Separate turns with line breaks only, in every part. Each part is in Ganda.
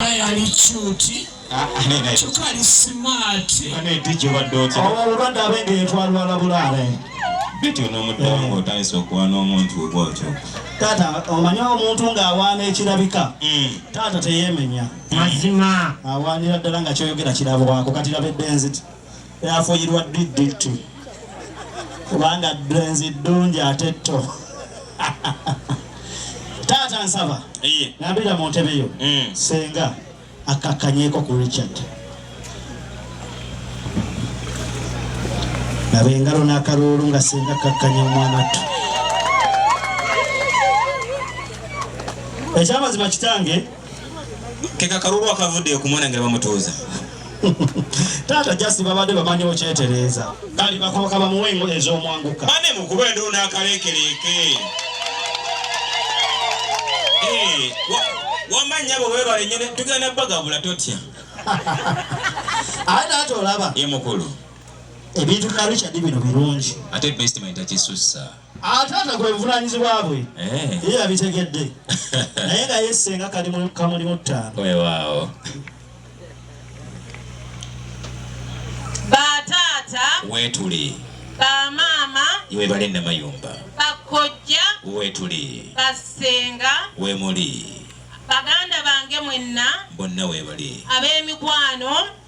yali cuti ah, ah, kyokka ali simaati
obulwadde abenge
yetwalwala bulaale bityo
n'omuddamu ng'otandise okuwa n'omuntu bwotyo taata
omanya omuntu ng'awaana ekirabika hmm. taata teyemenya mazima
awaanira ddala nga
kyoyogera kirabwako kati labedde nziti yafuyirwa ddt kubanga dwenzi ddungi ate tto taata nsaba nabira mu ntebe yo mm. senga akakanyeko ku richard naba engalo n'akaluulu nga senga kakkanya omwana ttu ekyamazima kitange keka
kalulu akavudde okumwana nga bamutuuza
taata jasi babadde bamanyi okyetereeza kali bakoka bamuwa engo ez'omwanguka bane mukuba endu
nakaleekereeke eh, wamanya bwe webale nyene tugenda bagabula totya aye
taata olaba ye mukulu
ebintu
bya richard bino birungi ate bestimenti
akisussa ate ate kwe
buvunanyizibwa bwe eh. ye yabitegedde naye nga yesenga kali kamulimu ttaano wewaawo
bataata wetuli
bamaama
webale
namayumba bakojja
wetuli
basenga
wemuli
baganda
bange mwenna bonna webali
ab'emikwano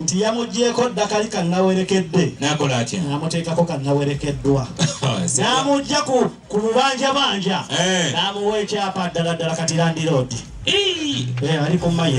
nti yamugyeko ddakali kannawerekedde nakola atya
namuteekako
kannawerekeddwa namugya ku bubanjabanja eh. namuwa ekyapa ddala ddala kati landiroodi eh, ali ku mayi